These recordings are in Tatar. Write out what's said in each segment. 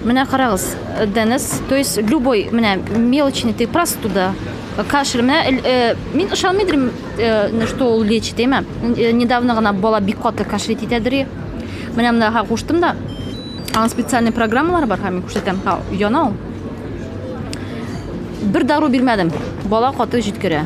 Менә карагыз, Денис, то есть любой менә мелочный ты просто туда кашель. Менә э, мин ышанмый идем, э, что ул лечит, әйме? Э, недавно гына бала бик каты кашель итәдер. Менә монда куштым да. Аның специальный программалары бар, һәм мин күрсәтәм. Ха, яна ул. Бер дару бирмәдем. Бала каты җиткерә.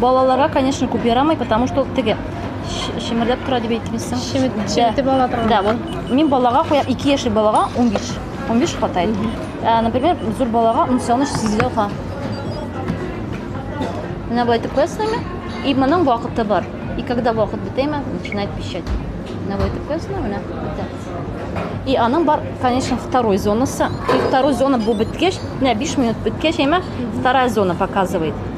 Балаларга, конечно, күп ярамый, потому что теге шимерләп тора дип әйтмисең. Шимит, шимитеп ала торган. Да, вот. Мин балага куям, 2 яшьле балага 15. 15 хватает. Э, например, зур балага унсаны сизгә ка. Менә бу итеп куясыңмы? И моның вакыты бар. И когда вакыт бетәме, начинает пищать. Менә бу итеп куясыңмы? Менә бетә. И аның бар, конечно, второй зонасы. И второй зона бу беткәч, менә 5 минут беткәч, әмма вторая зона показывает.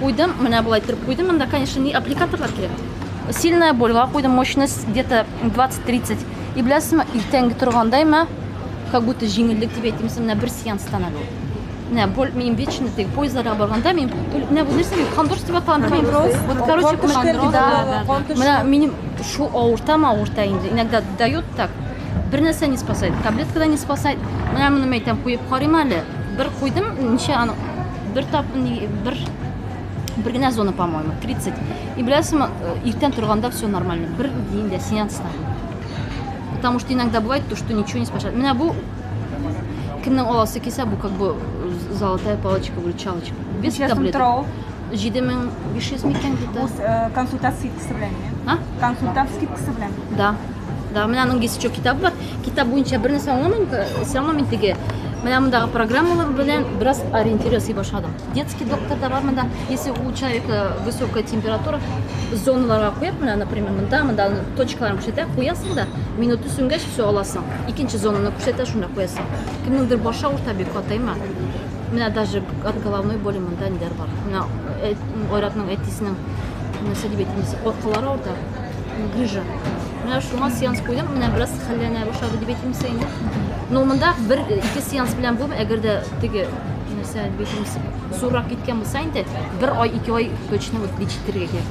Куйдым, менә болай иттереп куйдым. Монда, конечно, не аппликаторлар кирәк. Сильная больга куйдым, мощность где-то 20-30. И беләсезме, иртәнге торганда имә, как будто җиңеллек дип әйтимме, менә бер сеанстан әле ул. Менә боль, мин вечно теге поездларга барганда, мин менә бу нәрсә, мин кондроз дип аталам, кондроз. Вот, короче, кондроз, да. Менә минем шу авыртам, авырта инде. Иногда дает так. Бер нәрсә не спасает, таблетка да не спасает. Менә моны мәйтәм куеп карыйм әле. Бер куйдым, ничә аны бер тап бер бер генә зона по моему тридцать и беләсеңме э, иртән торганда все нормально бер дин дә сеанс потому что иногда бывает то что ничего не спасает менә бу кемнең аласы килсә бу как бы э, золотая палочка выручалочка без таблеток җиде мең биш йөз микән где то э, консультация скидкасы белән а консультация скидкасы белән да Да, менә аның дисчок китабы бар. Китап буенча бер нәрсә аңламыйм, сез аңламыйм теге. Менә мондагы программалар белән бераз ориентир ясый башладым. Детский доктор да бар монда. Если у человека высокая температура, зоналарга куеп, менә, например, монда, монда точкаларын күрсәтә, куясың да, минут үсенгәч, все аласың. Икенче зонаны күрсәтә, шунда куясың. Кемнеңдер башы авырта бик катайма. Менә даже от головной боли монда ниләр бар. Менә э, Айратның әтисенең нәрсә дип әйтәм, коркалары авырта. Гүжа. Менә шуңа сеанс куйдым, менә бераз хәлләнә башлады дип әйтимсә инде. Но монда бер ике сеанс белән булмый, әгәр дә теге нәрсә битимс суррак киткән булса инде, бер ай, ике ай точно вот лечить итәргә кирәк.